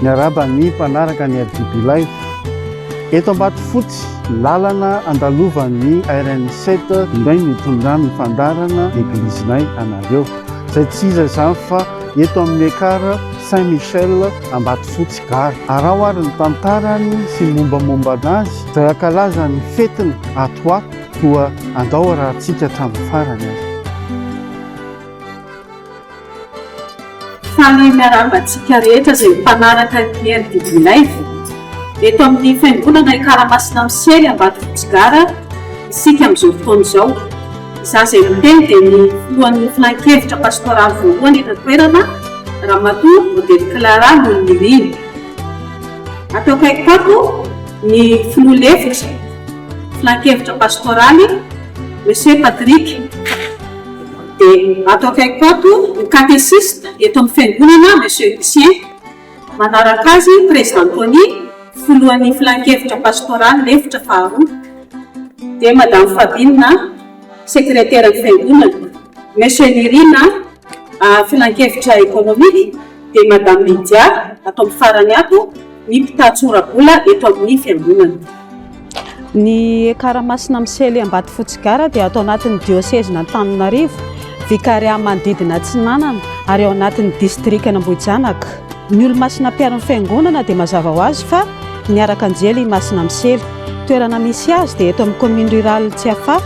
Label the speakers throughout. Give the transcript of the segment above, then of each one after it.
Speaker 1: Miarahaba ny mpanaraka ny FDB Live. Eto Ambatofotsy, lalana andalovan'ny RN7 indray ny tondrany fandarana eglizinay anareo. Izay tsy iza izany fa eto amin'ny Ekar Saint Michel Ambatofotsy Gare. Araho ary ny tantarany sy mombamomba anazy izay ankalazan'ny fetiny ato ho ato. Koa andao arahintsika hatramin'ny farany ary.
Speaker 2: Faly miarahaba antsika rehetra izay mpanaraka ny RDB Live. Eto amin'ny fiangonana Ikaramasina Misiely Ambatofotsy Gara isika amin'izao fotoana izao. Izaho izay miteny dia ny filohan'ny filankevitra pastoraly voalohany eto an-toerana, Ramatoa Odette Clara Nonirina. Ato akaikiko ato ny filoha lefitra. Filankevitra Pastoraly, Monsieur Patrick. Dia ato akaikiko ato, ny Katesista eto amin'ny Fiangonana, Monsieur Lucien. Manaraka azy, Président Tony, Filohan'ny Filankevitra Pastoraly, Lefitra faharoa. Dia Madame Fabine. Sekreteran'ny Fiangonana, Monsieur Nirina, ary Filankevitra Ekonomika, dia Madame Lydia, ato amin'ny farany ato, ny mpitatitra ora-bola eto amin'ny Fiangonana. Ny
Speaker 3: Ekara Masina Misely Ambatofotsy Gara dia ato anatin'ny Diosezin'Antananarivo, Vikariat manodidina Atsinanana, ary ao anatin'ny Distrikan'Ambohijanaka. Ny Olomasina Mpiaro ny Fiangonana dia mazava ho azy fa niaraka anjely i Masina Misely. Toerana misy azy dia eto amin'ny commune rurale Tsiafahy,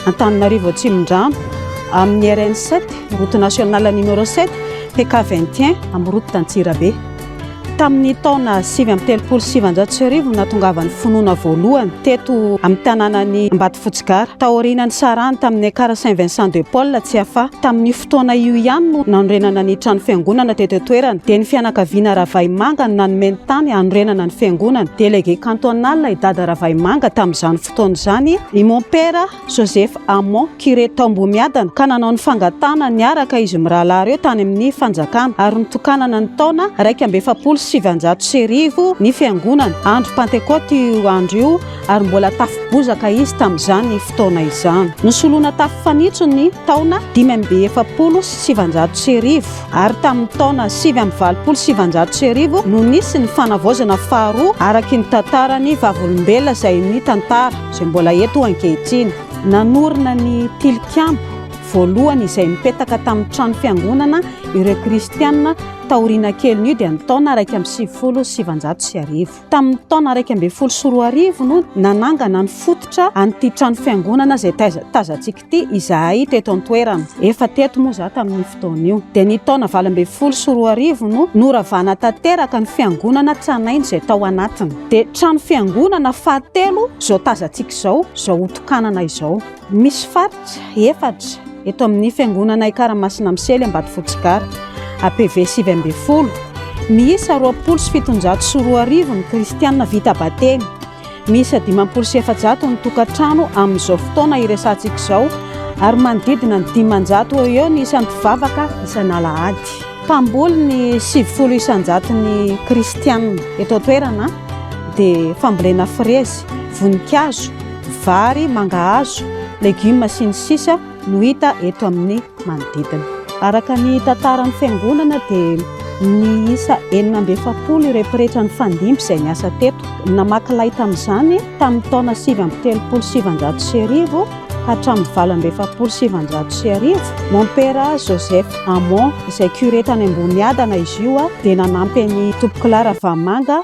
Speaker 3: Antananarivo Atsimondrano, amin'ny RN 7, route nationale numéro 7, TK 21, amin'ny route d'Antsirabe. Tamin'ny taona sivy amby telopolo sy sivanjato sy arivo no nahatongavan'ny finoana voalohany teto amin'ny tanànan'i Ambatofotsy Gara, taorianan'ny sarahany tamin'ny Ekar Saint Vincent de Paul Tsiafahy, tamin'ny Fotoana io ihany no nanorenana ny trano fiangonana teto an-toerana. Dia ny fianakaviana Ravahimanga no nanome ny tany hanorenana ny fiangonana. Délégué cantonal i Dada Ravahimanga tamin'izany fotoana izany i Mon Père Joseph Hamon, curé tao Ambohimiadana, ka nanao ny fangatahana niaraka izy mirahalahy ireo tany amin'ny fanjakana ary notokanana ny taona iraika amby efapolo sy sivinjato sy arivo ny fiangonana. Andro Pantekôty io andro io. ary mbola tafo bozaka izy tamin'izany fotoana izany. Nosoloina tafo fanitso ny taona dimy amby efapolo sy sivanjato sy arivo, ary tamin'ny taona sivy amby valopolo sy sivanjato sy arivo no nisy ny fanavaozana faharoa araky ny tantaran'ny Vavolombelona izay ny tantara izay mbola eto ankehitriny. Nanorina ny tilikambo voalohany izay nipetaka tamin'ny trano fiangonana ireo kristiana taoriana kelin'io dia ny taona iraika amby sivifolo sy sivanjato sy arivo. Tamin'ny taona iraika ambin'ny folo sy roa arivo no nanangana ny fototra an'ity trano fiangonana izay tazantsika ity izahay teto an-toerana. Efa teto moa izaho tamin'io fotoana io. Dia ny taona valo ambin'ny folo sy roa arivo no noravana tanteraka ny fiangonana tranainy izay tao anatiny. Dia trano fiangonana fahatelo izao tazantsika izao, izao hotokanana izao. Misy faritra efatra eto amin'ny Fiangonana Ikaramasina Misely Ambatofotsy Gara, APV sivy ambin'ny folo, miisa roapolo sy fitonjato sy roa arivo ny kristiana vita batemy. Miisa dimampolo sy efajato ny tokantrano amin'izao fotoana iresahantsika izao ary manodidina ny dimanjato eo eo ny isan'ny mpivavaka isan'alahady. Mpamboly ny sivifolo isanjaton'ny kristiana eto an-toerana dia fambolena frezy, voninkazo, vary, mangahazo, legioma sy ny sisa no hita eto amin'ny manodidina. Araka ny tantaran'ny fiangonana dia niisa enina amby efapolo ireo pretra nifandimby izay niasa teto. Namaky lay tamin'izany tamin'ny taona sivy amby telopolo sy sivinjato sy arivo hatramin'ny valo amby efapolo sy sivinjato sy arivo. Mompera Joseph Hamon izay curé tany Amboniadana izy io dia nanampy an'i Tompokolahy Ravamanga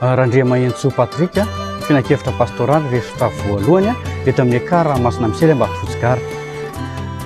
Speaker 1: Randriamahenintsoa Patrick, filankevitra pastoraly resota voalohany eto amin'ny ekar Masina Misely Ambatofotsy Gare.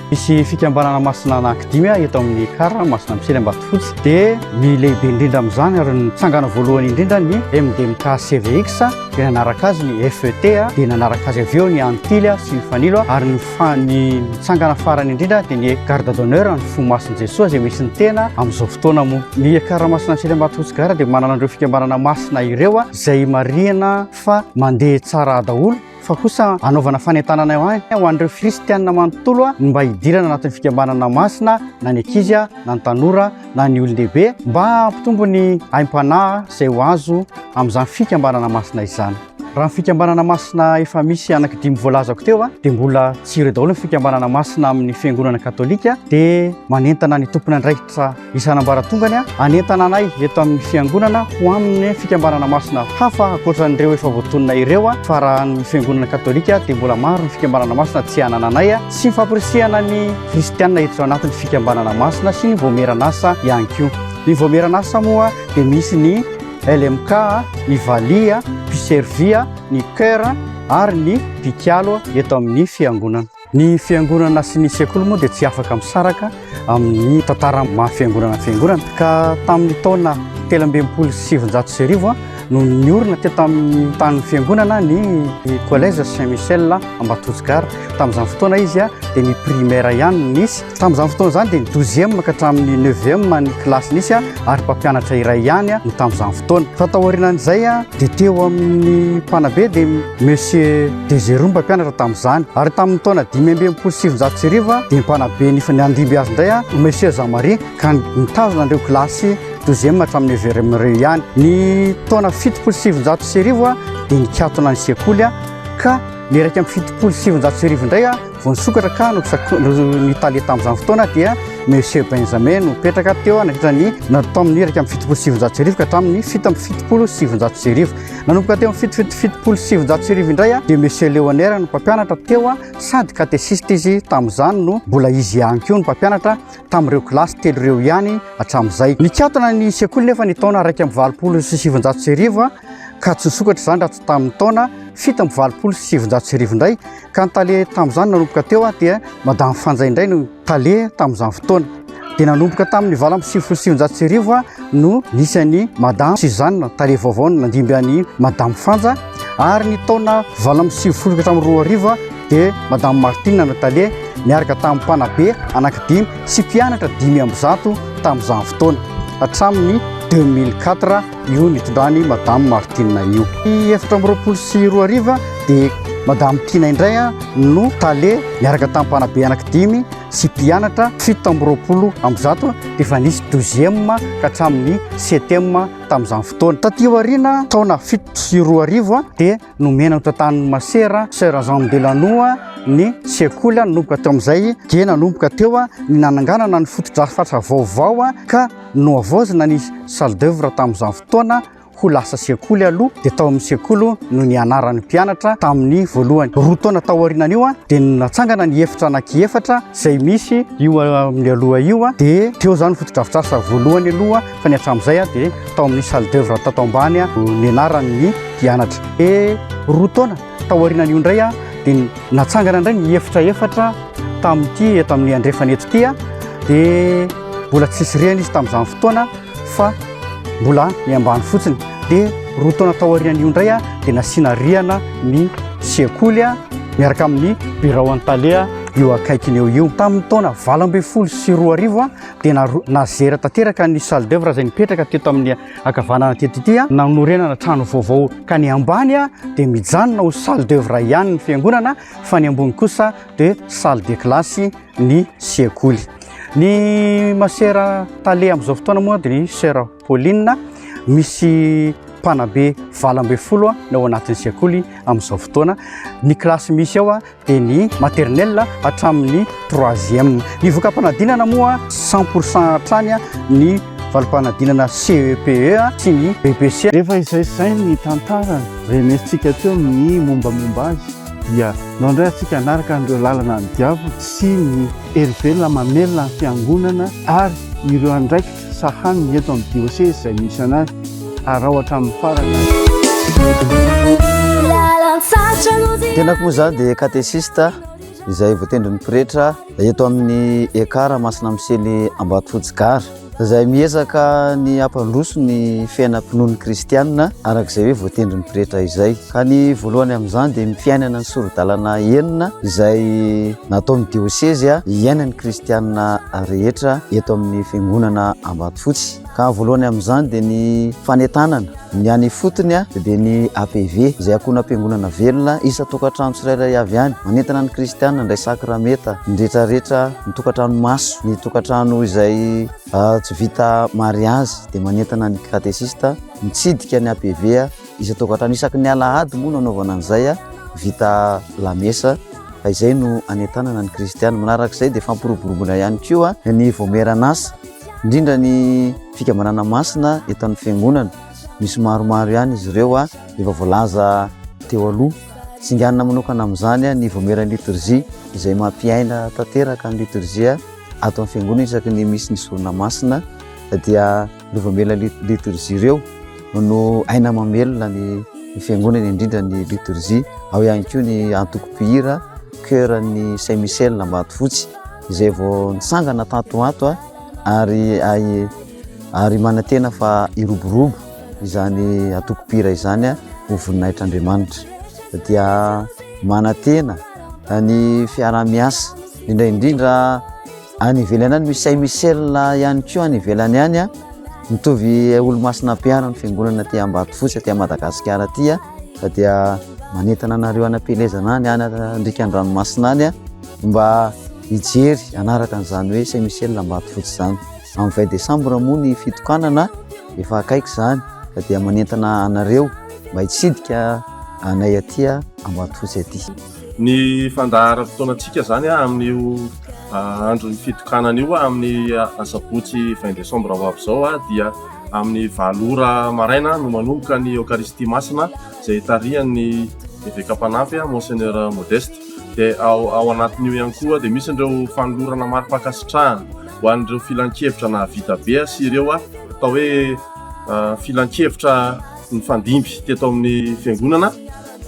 Speaker 1: Misy
Speaker 4: fikambanana masina anankidimy eto amin'ny ekar Masina Misely Ambatofotsy dia ny lehibe indrindra amin'izany ary nitsangana voalohany indrindra ny MDMK CVX dia nanaraka azy ny FET dia nanaraka azy avy eo ny Antily sy ny Fanilo ary ny Fa ny mitsangana farany indrindra dia ny garde d'honneur ny fo masin'i Jesoa izay misy ny tena amin'izao fotoana moa. Ny ekara masina Antsely Ambatofotsy Tsigara dia manana an'ireo fikambanana masina ireo izay marihina fa mandeha tsara daholo fa kosa anaovana fanentanana ihany ho an'ireo kristianina manontolo ny mba hidirana anatin'ny fikambanana masina na ny ankizy na ny tanora na ny olon-dehibe mba hampitombo ny aim-panahy izay ho azo amin'izany fikambanana masina izany. Raha ny fikambanana masina efa misy anaky dimy voalazako teo a, dia mbola tsy ireo daholo ny fikambanana masina amin'ny fiangonana katolika, dia manentana ny tompon'andraikitra isan'ambaratongany a, hanentana anay eto amin'ny fiangonana ho amin'ny fikambanana masina hafa ankoatran'ireo efa voatonona ireo a, fa raha ny fiangonana katolika dia mbola maro ny fikambanana masina tsy hanana anay a, sy ny famporisihana ny kristianina hiditra ao anatin'ny fikambanana masina sy ny voamieran'asa ihany koa. Ny voamieran'asa moa dia misy ny LMK, ny valiha, mpiservia, ny chœur ary ny mpikalo eto amin'ny fiangonana. Ny fiangonana sy ny sekoly moa dia tsy afaka misaraka amin'ny tantara maha fiangonana fiangonana ka tamin'ny taona telo amby enimpolo sy sivinjato sy arivo no niorina teto amin'ny tanin'ny fiangonana ny Collège Saint Michel Ambatosy Gare. Tamin'izany fotoana izy dia ny primaire ihany no nisy Tamin'izany fotoana izany dia ny douzième ka hatramin'ny neuvième ny kilasy nisy ary mpampianatra iray ihany no tamin'izany fotoana. Fa taorianan'izay dia teo amin'ny mpanabe dia Monsieur Dezerou mpampianatra tamin'izany. Ary tamin'ny taona dimy amby enimpolo sy sivinjato sy arivo dia ny mpanabe ny andimby azy indray Monsieur Jean Marie ka nitazona an'ireo kilasy douzième hatramin'ny neuvième ireo ihany. Ny taona fitopolo sy sivinjato sy arivo dia nikatona ny sekoly ka ny iraika amby fitopolo sy sivinjato sy arivo indray Vao nisokatra ka no nitale tamin'izany fotoana dia Monsieur Benjamin no petraka teo nandritra ny natao amin'ny iraika amby fitopolo sy sivinjato sy arivo ka hatramin'ny fito amby fitopolo sy sivinjato sy arivo. Nanomboka teo amin'ny fito fito fitopolo sy sivinjato sy arivo indray dia Monsieur Leonera no mpampianatra teo sady katesista izy tamin'izany no mbola izy ihany koa no mpampianatra tamin'ireo kilasy telo ireo ihany hatramin'izay. Nikatona ny sekoly nefa ny taona iraika amby valopolo sy sivinjato sy arivo ka tsy nisokatra izany raha tsy tamin'ny taona fito amby valopolo sy sivinjato sy arivo indray Ka ny tale tamin'izany nanomboka teo dia Madame Fanja indray no tale tamin'izany fotoana. Dia nanomboka tamin'ny valo amby sivifolo sy sivinjato sy arivo no nisy an'i Madame Suzanne, tale vaovao no nandimby an'i Madame Fanja. Ary ny taona valo amby sivifolo ka hatramin'ny roa arivo dia Madame Martine no tale miaraka tamin'ny mpanabe anankidimy sy mpianatra dimy amby zato tamin'izany fotoana hatramin'ny 2004. Io nitondrany Madame Martine io. Ny efatra amby roapolo sy roa arivo dia Madame Tina indray no tale niaraka tamin'ny mpanabe anaky dimy sy mpianatra fito amby roapolo amby zato dia efa nisy douzième ka hatramin'ny septième tamin'izany fotoana. Taty aoriana taona fito sy roa arivo dia Nomena ny tantanin'ny masera Sœur Jean Belanoa ny sekoly nanomboka teo amin'izay dia nanomboka teo ny nananganana ny fotodrafitrasa vaovao ka nohavaozina ny salle d'œuvre tamin'izany fotoana ho lasa sekoly aloha dia tao amin'ny sekoly no nianaran'ny mpianatra tamin'ny voalohany roa taona tao aorianan'io a dia natsangana ny efitra anaky efatra izay misy io amin'ny aloha io a dia teo izany fotodrafitrasa voalohany aloha fa ny hatramin'izay dia tao amin'ny salle d'oeuvre tato ambany no nianaran'ny mpianatra. E roa taona tao aorianan'io indray dia natsangana indray ny efitra efatra tamin'ity eto amin'ny andrefana eto ity dia mbola tsisy rihana izy tamin'izany fotoana fa mbola ny ambany fotsiny dia roa taona tao aorian'io indray dia nasiana rihana ny sekoly miaraka amin'ny birao an-tale io akaikiny eo io tamin'ny taona valo ambin'ny folo sy roa arivo dia nazera tanteraka ny salle d'oeuvre izay nipetraka teto amin'ny akavanana teto ity a nanorenana trano vaovao ka ny ambany a dia mijanona ho salle d'oeuvre ihany ny fiangonana fa ny ambony kosa dia salle de classe ny sekoly ny masera tale amin'izao fotoana moa dia ny sera Pauline, misy mpanabe valo ambin'ny folo no ao anatin'ny sekoly amin'izao fotoana. Ny kilasy misy ao dia ny maternelle hatramin'ny troisième. Ny voka-panadinana moa cent pour cent hatrany ny valim-panadinana CEPE e, sy ny BPC. Rehefa izay izay
Speaker 1: ny tantarany renesintsika teo ny mombamomba azy dia nao indray antsika hanaraka an'ireo lalana ny diavolo sy ny herivelona mamelona ny fiangonana ary ireo andraikitra Sahan ny eto amin'ny diocèse izay misy anay. Araho hatramin'ny farany.
Speaker 5: Tenako moa zany dia katesista izay voatendrin'ny pretra eto amin'ny ekara masina misely Ambatofotsy Gare izay miezaka ny hampandroso ny fiainam-pinoan'ny kristianina araka izay hoe voatendrin'ny pretra izay. ka ny voalohany amin'izany dia ny fiainana ny sori-dalana enina izay nataon'ny diosezy hiainan'ny kristianina rehetra eto amin'ny fiangonana Ambatofotsy. Ka voalohany amin'izany dia ny fanentanana ny any ifotony dia ny APV izay ankohonam-piangonana velona isan-tokantrano tsirairay avy any. Manentana ny kristianina handray sakramenta ny rehetrarehetra, ny tokantrano maso, ny tokantrano izay tsy vita mariazy dia manentana ny katesista mitsidika ny APV. Isan-tokantrano isaky ny alahady moa no anaovana an'izay, vita lamesa, fa izay no anentanana ny kristiana. Manaraka izay dia fampiroboroboana ihany koa ny voamieran'asa, indrindra ny fikambanana masina eto amin'ny fiangonana. Misy maromaro ihany izy ireo efa voalaza teo aloha. Singanina manokana amin'izany ny voamieran'ny litorjia izay mampiaina tanteraka ny litorjia ato amin'ny fiangonana isaky ny misy ny sorona masina dia Ireo voamela litorjia ireo no aina mamelona ny fiangonana indrindra ny litorjia. Ao ihany koa ny antoko mpihira Chœur-n'ny Saint Michel Ambatofotsy izay vao nisangana tato ho ato ary ary manantena fa hiroborobo izany antoko mpihira izany ho voninahitr'Andriamanitra. Dia manantena ny fiaraha-miasa indrindra indrindra Any ivelany any misy Saint Michel ihany koa any ivelany any a. Mitovy olomasina ampihariny fiangonana aty Ambatofotsy aty Madagasikara aty a. Fa dia manentana anareo any am-pielezana any any andrika an-dranomasina any a. Mba hijery hanaraka an'izany hoe Saint Michel Ambatofotsy izany. Amin'ny 20 décembre moa ny fitokanana efa akaiky izany fa dia manentana anareo mba hitsidika anay aty Ambatofotsy aty. Ny
Speaker 6: fandaharam-potoanantsika izany amin'io andron'ny fitokanana io amin'ny asabotsy vingt décembre ho avy izao dia amin'ny valo ora maraina no manomboka ny Eokaristia Masina izay tarihan'ny Eveka Mpanampy Monseigneur Modeste. Dia ao ao anatin'io ihany koa dia misy ireo fanolorana mari-pankasitrahana ho an'ireo filankevitra nahavita be sy ireo atao hoe filankevitra nifandimby teto amin'ny Fiangonana.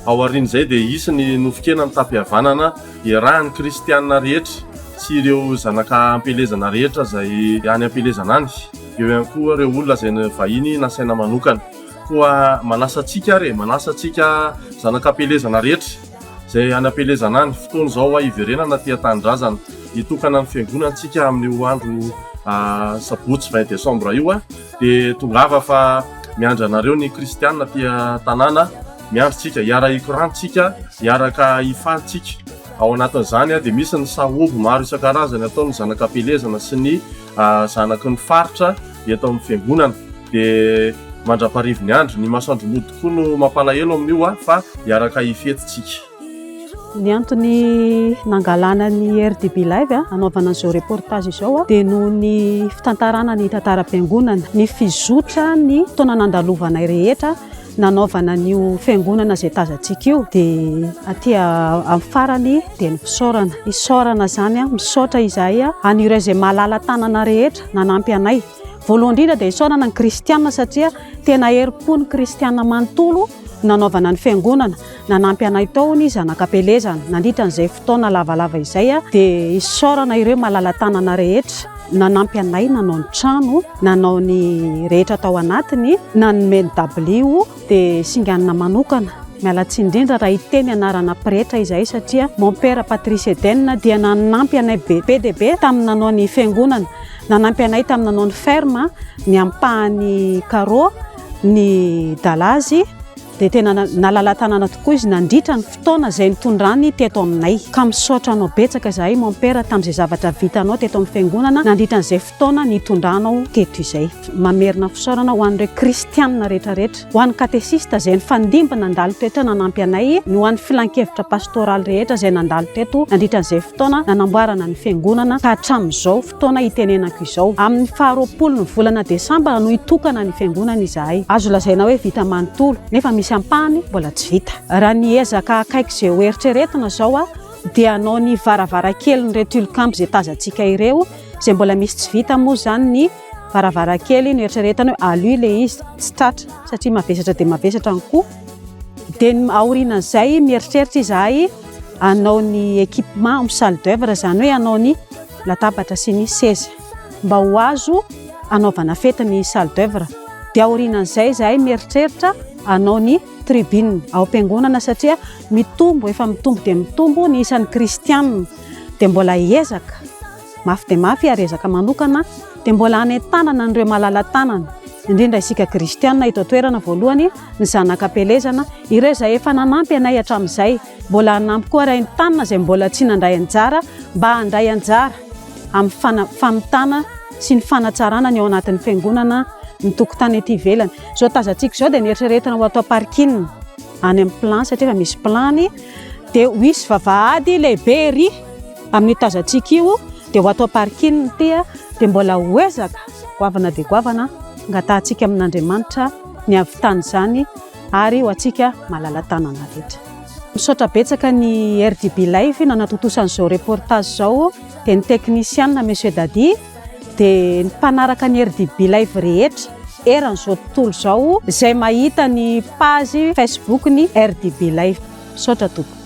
Speaker 6: Ao aorian'izay dia hisy ny nofon-kena mitapy havanana iarahan'ny kristiana rehetra sy ireo zanaka am-pielezana rehetra izay any am-pielezana any. Eo ihany koa ireo olona izay vahiny nasaina manokana. Koa manasa antsika ary e, manasa antsika zanaka am-pielezana rehetra izay any am-pielezana any, fotoana izao hoa hiverenana aty an-tanindrazana. Hitokana ny fiangonantsika amin'io andro sabotsy vingt décembre io. Dia tongava fa miandry anareo ny kristiana aty an-tanàna, miandry tsika, hiara-hikorana tsika, hiaraka hifaly tsika. Ao anatin'izany dia misy ny sahoby maro isan-karazany ataon'ny zanakam-pielezana sy ny zanaky ny faritra eto amin'ny fiangonana. Dia mandra-parivin'ny andro, ny masoandro mody koa no mampalahelo amin'io fa hiaraka hifety tsika. Ny
Speaker 3: antony nangalana ny RDB Live hanaovana an'izao reportage izao dia noho ny fitantarana ny tantaram-piangonana, ny fizotra ny taona nandalovanay rehetra nanaovana an'io fiangonana izay tazantsika io dia aty amin'ny farany dia ny fisaorana. Isaorana izany, misaotra izahay an'ireo izay malala-tanana rehetra nanampy anay. Voalohany indrindra dia isaorana ny kristiana satria tena herim-po ny kristiana manontolo nanaovana ny fiangonana, nanampy anay tao ny zanak'Ampelezana nandritra an'izay fotoana lavalava izay dia isaorana ireo malala-tanana rehetra nanampy anay nanao ny trano, nanao ny rehetra tao anatiny, nanome ny dabilio dia singanina manokana. Miala tsiny indrindra raha hiteny anarana pretra izahay satria Mompera Patrice Eden dia nanampy anay be be dia be tamin'ny nanao ny fiangonana, nanampy anay tamin'ny nanao ny ferme, ny ampahany carreaux, ny Dalazy dia tena nalala-tanana tokoa izy nandritra ny fotoana izay nitondrany teto aminay. Ka misaotra anao betsaka izahay Mompera tamin'izay zavatra vitanao teto amin'ny Fiangonana nandritra an'izay fotoana nitondranao teto izay. Mamerina fisaorana ho an'ireo Kristianina rehetrarehetra, ho an'ny Katesista izay nifandimby nandalo teto izay nanampy anay, ny ho an'ny Filankevitra Pastoraly rehetra izay nandalo teto nandritra an'izay fotoana nanamboarana ny Fiangonana ka hatramin'izao. taona itenenako izao. Amin'ny faharoapolon'ny volana desambra no hitokana ny fiangonana izahay. Azo lazaina hoe vita manontolo, nefa misy ampahany mbola tsy vita. Raha ny ezaka akaiky izay ho eritreretina izao aho, dia hanao ny varavarankelin'ireo tilikambo izay tazantsika ireo, izay mbola misy tsy vita moa izany ny varavarankely noeritreretana hoe aloy ilay izy, tsy tratra satria mavesatra dia mavesatra ny koa. Dia aorianan'izay mieritreritra izahay. hanao ny équipement amin'ny salle d'oeuvre izany hoe hanao ny latabatra sy ny seza mba ho azo hanaovana fety ny salle d'oeuvre dia aorianan'izay izahay mieritreritra hanao ny tribune ao am-piangonana satria mitombo efa mitombo dia mitombo ny isan'ny kristianina dia mbola hiezaka mafy dia mafy ary ezaka manokana dia mbola hanentanana an'ireo malala-tanana, indrindra isika kristiana eto an-toerana voalohany, ny zanaka am-pielezana, ireo izay efa nanampy anay hatramin'izay, mbola hanampy koa ary haentanina izay mbola tsy nandray anjara mba handray anjara amin'ny famitana sy ny fanatsarana ny ao anatin'ny fiangonana ny tokotany ety ivelany. Izao tazantsika izao dia neritreretina ho ato am-parking any amin'ny plan satria efa misy plan dia ho hisy vavahady lehibe ery. Amin'io tazantsika io dia ho ato am-parikin' ny tia dia mbola ho ezaka goavana dia goavana hangatahantsika amin' Andriamanitra ny hahavitana izany ary ho antsika malala-tanana rehetra. Misaotra betsaka ny RDB Live nanatontosa an'izao reportage izao dia ny teknisiana Monsieur Dadi dia ny mpanaraka ny RDB Live rehetra eran'izao tontolo izao izay mahita ny page Facebook ny RDB Live. Misaotra tompoko.